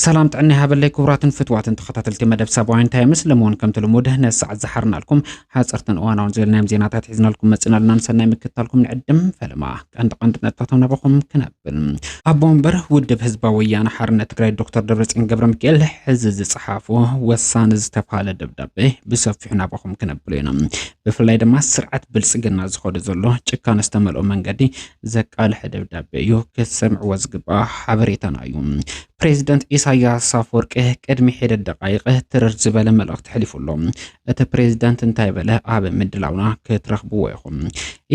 ሰላም ጥዕና ይሃበለይ ክቡራትን ፍትዋትን ተኸታተልቲ መደብ ሰብኣዊን ታይምስ ለመሆን ከምቲ ልሙድ ነዚ ሰዓት ዝሓርናልኩም ሓፀርትን እዋናውን ዝበልናዮም ዜናታት ሒዝናልኩም መፅናልና ንሰናይ ምክታልኩም ንዕድም ፈለማ ቀንዲ ቀንዲ ነጥብታቶም ናባኹም ክነብ ኣቦ ወንበር ውድብ ህዝባዊ ወያነ ሓርነት ትግራይ ዶክተር ደብረፅዮን ገብረ ሚካኤል ሕዚ ዝፀሓፎ ወሳኒ ዝተባሃለ ደብዳቤ ብሰፊሑ ናባኹም ክነብሎ ኢና። ብፍላይ ድማ ስርዓት ብልፅግና ዝኸዶ ዘሎ ጭካነ ዝተመልኦ መንገዲ ዘቃልሐ ደብዳቤ እዩ። ክትሰምዕዎ ዝግባእ ሓበሬታና እዩ። ፕሬዚደንት ኢሳያስ ኣፈወርቂ ቅድሚ ሒደት ደቃይቅ ትርር ዝበለ መልእኽቲ ሕሊፉ ኣሎ። እቲ ፕሬዝዳንት እንታይ በለ? ኣብ ምድላውና ክትረኽብዎ ኢኹም።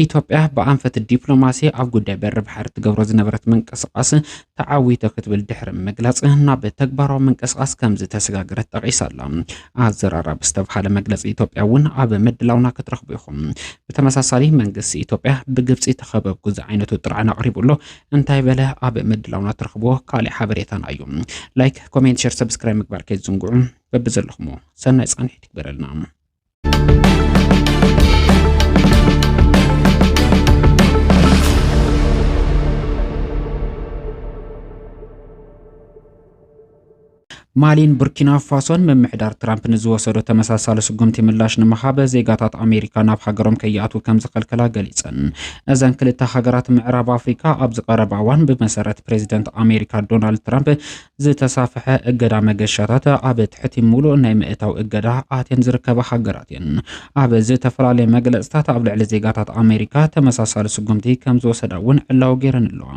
ኢትዮጵያ ብኣንፈት ዲፕሎማሲ ኣብ ጉዳይ በሪ ባሕሪ ትገብሮ ዝነበረት ምንቅስቓስ ተዓዊቶ ክትብል ድሕሪ ምግላፅ ናብ ተግባራዊ ምንቅስቓስ ከምዝተሰጋገረት ጠቒሳ ኣላ። ኣዘራራቢ ዝተብሃለ መግለፂ ኢትዮጵያ እውን ኣብ ምድላውና ክትረኽቡ ኢኹም። ብተመሳሳሊ መንግስቲ ኢትዮጵያ ብግብፂ ተኸበብኩ ዝዓይነቱ ጥርዓን ኣቕሪቡ ኣሎ። እንታይ በለ? ኣብ ምድላውና ትረኽብዎ ካሊእ ሓበሬታና እዩ። ላይክ፣ ኮሜንት፣ ሸር፣ ሰብስክራይብ ምግባር ከይትዝንግዑ። በብዘለኹሞ ሰናይ ጻንሒት ይግበረልና። ማሊን ቡርኪና ፋሶን ምምሕዳር ትራምፕ ንዝወሰዶ ተመሳሳሊ ስጉምቲ ምላሽ ንምሃብ ዜጋታት ኣሜሪካ ናብ ሃገሮም ከይኣትዉ ከም ዝኸልከላ ገሊጸን። እዘን ክልተ ሃገራት ምዕራብ ኣፍሪካ ኣብዚ ቀረባ እዋን ብመሰረት ፕሬዚደንት ኣሜሪካ ዶናልድ ትራምፕ ዝተሳፍሐ እገዳ መገሻታት ኣብ ትሕቲ ሙሉእ ናይ ምእታው እገዳ ኣትየን ዝርከባ ሃገራት እየን። ኣብ ዝተፈላለየ መግለፅታት ኣብ ልዕሊ ዜጋታት ኣሜሪካ ተመሳሳሊ ስጉምቲ ከምዝወሰዳ እውን ዕላዊ ገይረን ኣለዋ።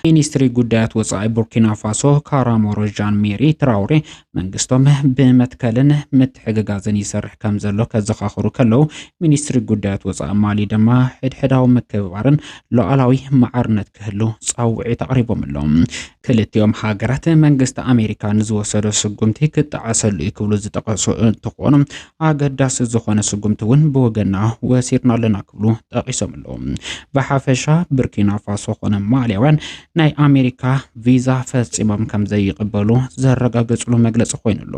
ሚኒስትሪ ጉዳያት ወፃኢ ቡርኪናፋሶ ካራሞሮ ዣን ሜሪ ትራውሬ መንግስቶም ብመትከልን ምትሕግጋዝን ይሰርሕ ከምዘሎ ከዘኻኽሩ ከለው ሚኒስትሪ ጉዳያት ወፃኢ ማሊ ድማ ሕድሕዳዊ ምክብባርን ሉኣላዊ ማዕርነት ክህሉ ፃውዒት ኣቕሪቦም ኣለው። ክልቲኦም ሃገራት መንግስቲ ኣሜሪካ ንዝወሰዶ ስጉምቲ ክጠዓሰሉ እዩ ክብሉ ዝጠቐሱ እንትኾኑ ኣገዳሲ ዝኾነ ስጉምቲ እውን ብወገና ወሲድና ኣለና ክብሉ ጠቒሶም ኣለዉ። ብሓፈሻ ብርኪና ፋሶ ኮነ ማሊያውያን ናይ ኣሜሪካ ቪዛ ፈፂሞም ከም ዘይቕበሉ ዘረጋገፅሉ መግለፂ ኮይኑ ኣሎ።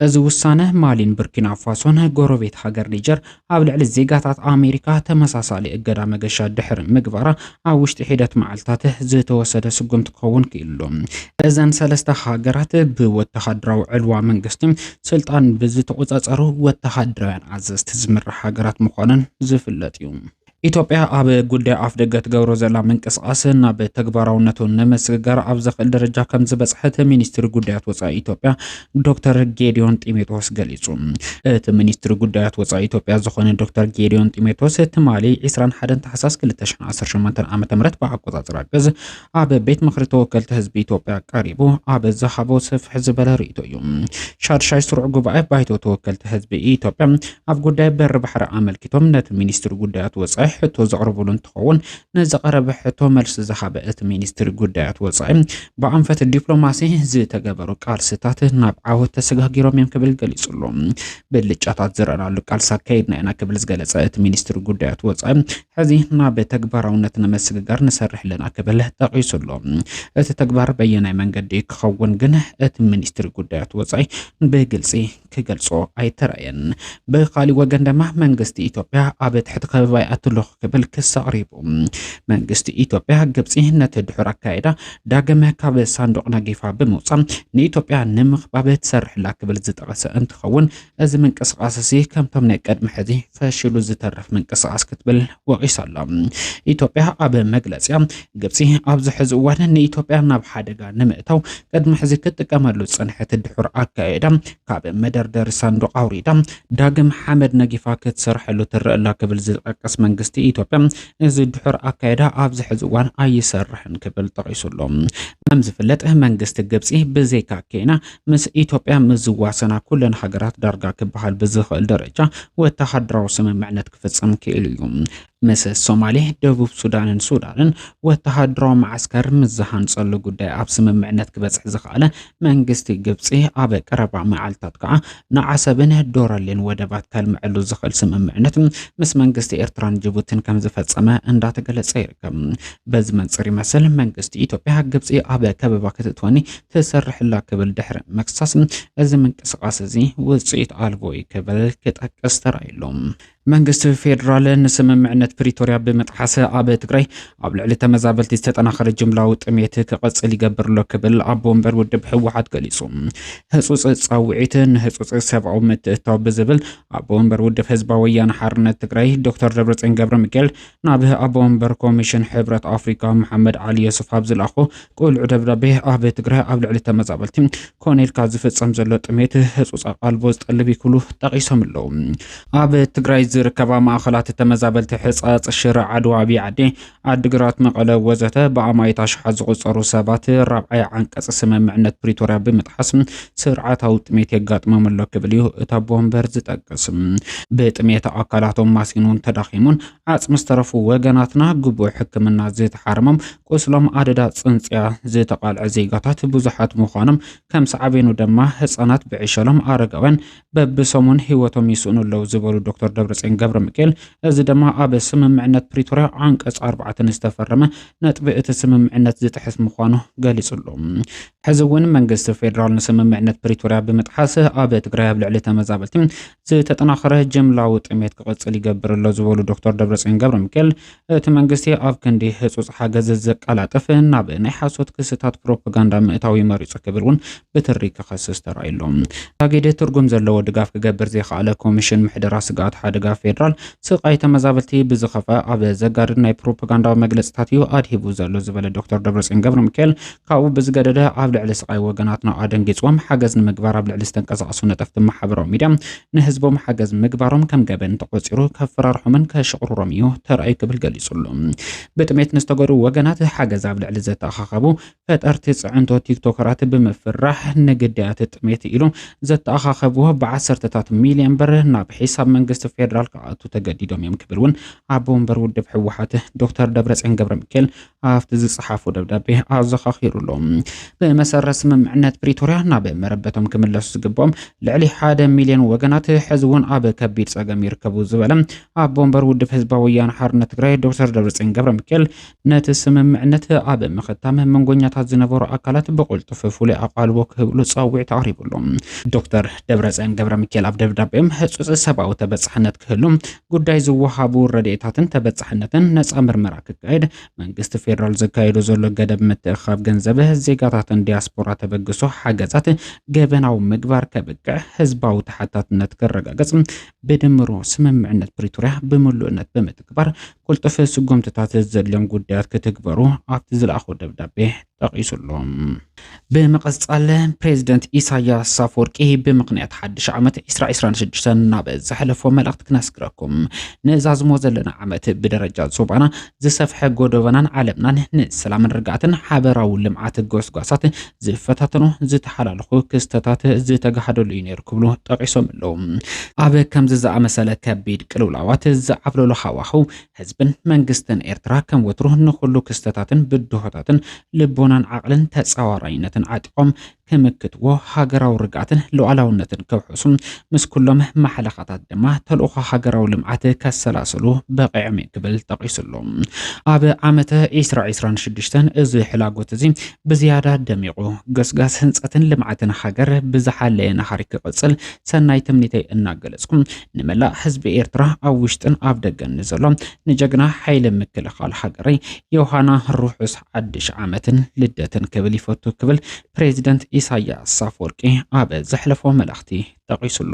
እዚ ውሳነ ማሊን ብርኪና ፋሶን ጎረቤት ሃገር ኒጀር ኣብ ልዕሊ ዜጋታት ኣሜሪካ ተመሳሳሊ እገዳ መገሻ ድሕሪ ምግባራ ኣብ ውሽጢ ሒደት መዓልትታት ዝተወሰደ ስጉምቲ ክኸውን ክኢሉ'ሎ። እዘን ሰለስተ ሃገራት ብወተሃደራዊ ዕልዋ መንግስቲ ስልጣን ብዝተቖጻጸሩ ወተሃደራውያን ኣዘዝቲ ዝምራሕ ሃገራት ምዃነን ዝፍለጥ'ዩ። ኢትዮጵያ ኣብ ጉዳይ ኣፍ ደገ ትገብሮ ዘላ ምንቅስቓስ ናብ ተግባራውነቱ ንምስግጋር ኣብ ዘኽእል ደረጃ ከም ዝበፅሐት ሚኒስትሪ ጉዳያት ወፃኢ ኢትዮጵያ ዶክተር ጌዲዮን ጢሞቴዎስ ገሊፁ። እቲ ሚኒስትሪ ጉዳያት ወፃኢ ኢትዮጵያ ዝኾነ ዶክተር ጌዲዮን ጢሞቴዎስ ትማሊ 21 ታሕሳስ 2018 ዓ ም ብኣቆፃፅራ ግዝ ኣብ ቤት ምኽሪ ተወከልቲ ህዝቢ ኢትዮጵያ ቀሪቡ ኣብ ዝሃቦ ስፍሕ ዝበለ ርእይቶ እዩ። ሻድሻይ ስሩዕ ጉባኤ ባይቶ ተወከልቲ ህዝቢ ኢትዮጵያ ኣብ ጉዳይ በሪ ባሕሪ ኣመልኪቶም ነቲ ሚኒስትሪ ጉዳያት ወፃኢ ሕቶ ዘቕረብሉ እንትኸውን ንዝቐረበ ሕቶ መልሲ ዝሃበ እቲ ሚኒስትሪ ጉዳያት ወፃኢ ብኣንፈት ዲፕሎማሲ ዝተገበሩ ቃልስታት ናብ ዓወት ተሰጋጊሮም እዮም ክብል ገሊጹ ኣሎ። ብልጫታት ዝረኣናሉ ቃልሲ ኣካይድና ኢና ክብል ዝገለጸ እቲ ሚኒስትሪ ጉዳያት ወፃኢ ሕዚ ናብ ተግባራውነት ንምስግጋር ንሰርሕ ኣለና ክብል ጠቒሱ ኣሎ። እቲ ተግባር በየናይ መንገዲ ክኸውን ግን እቲ ሚኒስትሪ ጉዳያት ወፃኢ ብግልፂ ክገልጾ ኣይተራእየን። ብኻሊእ ወገን ድማ መንግስቲ ኢትዮጵያ ኣብ ትሕቲ ከበባ ይኣቱ ኣለኹ ክብል ክስ ኣቕሪቡ። መንግስቲ ኢትዮጵያ ግብፂ ነቲ ድሑር ኣካይዳ ዳግም ካብ ሳንዱቕ ናጌፋ ብምውፃእ ንኢትዮጵያ ንምኽባብ ትሰርሕላ ክብል ዝጠቐሰ እንትኸውን እዚ ምንቅስቓስ እዚ ከምቶም ናይ ቅድሚ ሕዚ ፈሽሉ ዝተርፍ ምንቅስቓስ ክትብል ወቒሳ ኣላ። ኢትዮጵያ ኣብ መግለፂያ ግብፂ ኣብዚ ሕዚ እዋን ንኢትዮጵያ ናብ ሓደጋ ንምእታው ቅድሚ ሕዚ ክትጥቀመሉ ዝፀንሐት ድሑር ኣካየዳ ካብ መደርደሪ ሳንዱቕ ኣውሪዳ ዳግም ሓመድ ነጊፋ ክትሰርሐሉ ትረአ ኣላ ክብል ዝጠቅስ መንግስቲ ኢትዮጵያ እዚ ድሑር ኣካይዳ ኣብዚ ሕዚ እዋን ኣይሰርሕን ክብል ጠቒሱ ኣሎ። ከም ዝፍለጥ መንግስቲ ግብጺ ብዘይካ ኬንያ ምስ ኢትዮጵያ ምስ ዝዋሰና ኩለን ሃገራት ዳርጋ ክበሃል ብዝኽእል ደረጃ ወተሃደራዊ ስምምዕነት ክፍጽም ክኢሉ እዩ። ምስ ሶማሌ፣ ደቡብ ሱዳንን ሱዳንን ወተሃደራዊ መዓስከር ምስ ዝሃንጸሉ ጉዳይ ኣብ ስምምዕነት ክበጽሕ ዝኸኣለ መንግስቲ ግብጺ ኣብ ቀረባ መዓልታት ከዓ ንዓሰብን ዶረሌን ወደባት ከልምዐሉ ዝኽእል ስምምዕነት ምስ መንግስቲ ኤርትራን ጅቡትን ከም ዝፈጸመ እንዳተገለጸ ይርከብ። በዚ መንጽር ይመስል መንግስቲ ኢትዮጵያ ግብጺ ኣብ ከበባ ክትእትወኒ ትሰርሕላ ክብል ድሕሪ መክሳስ እዚ ምንቅስቓስ እዚ ውጽኢት ኣልቦ እዩ ክብል ክጠቅስ ተራእዩሎም። መንግስቲ ፌዴራል ንስምምዕነት ፕሪቶርያ ብምጥሓሰ ኣብ ትግራይ ኣብ ልዕሊ ተመዛበልቲ ዝተጠናኸረ ጅምላዊ ጥሜት ክቕፅል ይገብር ኣሎ ክብል ኣቦ ወንበር ውድብ ህወሓት ገሊፁ። ህፁፅ ፃውዒት ንህፁፅ ሰብኣዊ ምትእትታው ብዝብል ኣቦ ወንበር ውድብ ህዝባዊ ወያነ ሓርነት ትግራይ ዶክተር ደብረፅዮን ገብረ ሚካኤል ናብ ኣቦ ወንበር ኮሚሽን ሕብረት ኣፍሪካ መሓመድ ዓሊ የሱፍ ኣብ ዝለኣኾ ቁልዕ ደብዳቤ ኣብ ትግራይ ኣብ ልዕሊ ተመዛበልቲ ኮነ ኢልካ ዝፍፀም ዘሎ ጥሜት ህፁፅ ኣቓልቦ ዝጠልብ እዩ ክብሉ ጠቒሶም ኣለዉ። ኣብ ትግራይ ዝርከባ ማእኸላት ተመዛበልቲ ሕፃፅ፣ ሽረ፣ ዓድዋ፣ ኣብይ ዓዲ፣ ዓዲግራት፣ መቐለ ወዘተ ብኣማኢት ኣሽሓት ዝቑፀሩ ሰባት ራብዓይ ዓንቀፅ ስምምዕነት ፕሪቶርያ ብምጥሓስ ስርዓታዊ ጥሜት የጋጥሞም ኣሎ ክብል እዩ እቲ ኣቦ ወንበር ዝጠቅስ። ብጥሜት ኣካላቶም ማሲኑን ተዳኺሙን ዓጽሚ ዝተረፉ ወገናትና ግቡእ ሕክምና ዝተሓረሞም ቁስሎም ኣደዳ ጽንጽያ ዝተቓልዐ ዜጋታት ብዙሓት ምዃኖም ከም ሳዕቤኑ ድማ ህጻናት ብዕሸሎም ኣረጋውያን በብሰሙን ህይወቶም ይስእኑ ኣለዉ ዝበሉ ዶክተር ደብረጽዮን ገብረ ሚካኤል እዚ ድማ ኣብ ስምምዕነት ፕሪቶርያ ዓንቀጽ ኣርባዕተ ዝተፈረመ ነጥቢ እቲ ስምምዕነት ዝጥሕስ ምዃኑ ገሊጹ ኣሎ። ሕዚ እውን መንግስቲ ፌዴራል ንስምምዕነት ፕሪቶርያ ብምጥሓስ ኣብ ትግራይ ኣብ ልዕሊ ተመዛበልቲ ዝተጠናኸረ ጅምላዊ ጥሜት ክቕፅል ይገብር ኣሎ ዝበሉ ዶክተር ደብረፅዮን ገብረ ሚካኤል እቲ መንግስቲ ኣብ ክንዲ ህፁፅ ሓገዝ ዘቀላጥፍ ናብ ናይ ሓሶት ክስታት ፕሮፓጋንዳ ምእታዊ መሪፁ ክብል እውን ብትሪ ክኸስስ ተራእዩ ኣሎ። ታጊድ ትርጉም ዘለዎ ድጋፍ ክገብር ዘይኸኣለ ኮሚሽን ምሕደራ ስግኣት ሓደጋ ፌዴራል ስቓይ ተመዛበልቲ ብዝኸፍኣ ኣብ ዘጋድድ ናይ ፕሮፓጋንዳዊ መግለፅታት እዩ ኣድሂቡ ዘሎ ዝበለ ዶክተር ደብረፅዮን ገብረሚካኤል ካብኡ ብዝገደደ ኣብ ልዕሊ ስቓይ ወገናትና ኣደንጊጽዎም ሓገዝ ንምግባር ኣብ ልዕሊ ዝተንቀሳቐሱ ነጠፍቲ ማሕበራዊ ሚድያ ንህዝቦም ሓገዝ ምግባሮም ከም ገበን ተቖጺሩ ከፈራርሖምን ከሽቕርሮም እዩ ተራእዩ ክብል ገሊጹ ኣሎ። ብጥሜት ንዝተጎድኡ ወገናት ሓገዝ ኣብ ልዕሊ ዘተኣኻኸቡ ፈጠርቲ ጽዕንቶ ቲክቶከራት ብምፍራሕ ንግዳያት ጥሜት ኢሉ ዘተኣኻኸብዎ ብዓሰርተታት ሚልዮን ብር ናብ ሒሳብ መንግስቲ ፌደራል ክኣቱ ተገዲዶም እዮም ክብል እውን ኣቦ ወንበር ውድብ ህወሓት ዶክተር ደብረጽዮን ገብረሚካኤል ኣብቲ ዝጸሓፎ ደብዳቤ ኣዘኻኺሩ ኣሎ። ብመሰረት ስምምዕነት ፕሪቶርያ ናብ መረበቶም ክምለሱ ዝግብኦም ልዕሊ ሓደ ሚልዮን ወገናት ሕዚ እውን ኣብ ከቢድ ጸገም ይርከቡ ዝበለ ኣቦ ወንበር ውድብ ህዝባዊ ወያነ ሓርነት ትግራይ ዶክተር ደብረጽዮን ገብረ ሚካኤል ነቲ ስምምዕነት ኣብ ምኽታም መንጎኛታት ዝነበሩ ኣካላት ብቕልጡፍ ፍሉይ ኣቓልቦ ክህብሉ ጻዊዕት ኣቕሪቡሎም። ዶክተር ደብረጽዮን ገብረ ሚካኤል ኣብ ደብዳቤኦም ህጹጽ ሰብኣዊ ተበጻሕነት ክህሉ ጉዳይ ዝወሃቡ ረድኤታትን ተበፃሕነትን ነፃ ምርመራ ክካየድ መንግስቲ ፌዴራል ዘካየዶ ዘሎ ገደብ ምትእኽኻብ ገንዘብ ዜጋታትን ዲያስፖራ ተበግሶ ሓገዛት ገበናዊ ምግባር ከብቅዕ ህዝባዊ ተሓታትነት ክረጋገፅ ብድምሩ ስምምዕነት ፕሪቶሪያ ብምሉእነት ብምትግባር ቁልጡፍ ስጉምትታት ዘድልዮም ጉዳያት ክትግበሩ ኣብቲ ዝለኣኾ ደብዳቤ ጠቒሱ ኣሎ። ብምቕጻል ፕሬዚደንት ኢሳያስ ኣፈወርቂ ብምኽንያት ሓድሽ ዓመት ዒስራ ዒስራን ሽዱሽተን ናብ ዘሕለፎ መልእኽቲ ክነስግረኩም። ንዛዝሞ ዘለና ዓመት ብደረጃ ዞባና ዝሰፍሐ ጎዶበናን ዓለምናን ንሰላምን ርግኣትን ሓበራዊ ልምዓት ጎስጓሳት ዝፈታተኑ ዝተሓላለኹ ክስተታት ዝተጋህደሉ እዩ ነይሩ ክብሉ ጠቒሶም ኣለዉ። ኣብ ከምዚ ዝኣመሰለ ከቢድ ቅልውላዋት ዝዓብለሎ ሃዋህው ህዝብን መንግስትን ኤርትራ ከም ወትሩ ንኹሉ ክስተታትን ብድሆታትን ልቦናን ዓቕልን ተጻዋራይነትን ዓጢቖም ክምክትዎ፣ ሃገራዊ ርግኣትን ሉኣላውነትን ከውሕሱ፣ ምስ ኩሎም ማሕለኻታት ድማ ተልእኾ ሃገራዊ ልምዓት ከሰላስሉ በቒዖም'ዩ ክብል ጠቒሱ'ሎ። ኣብ ዓመተ ዒስራ ዒስራን ሽዱሽተን እዚ ሕላጎት'ዚ ብዝያዳ ደሚቑ፣ ገስጋስ ህንጸትን ልምዓትን ሃገር ብዝሓለየ ናህሪ ክቕጽል ሰናይ ትምኒተይ እናገለጽኩ፣ ንመላእ ህዝቢ ኤርትራ ኣብ ውሽጥን ኣብ ደገን ንዘሎ ንጀግና ሓይሊ ምክልኻል ሃገረይ ዮሃና ርሑስ ሓድሽ ዓመትን ልደትን ክብል ይፈቱ ክብል ፕሬዚደንት ኢሳያስ ኣፈወርቂ ኣብ ዘሕለፎ መልእኽቲ ጠቒሱሉ።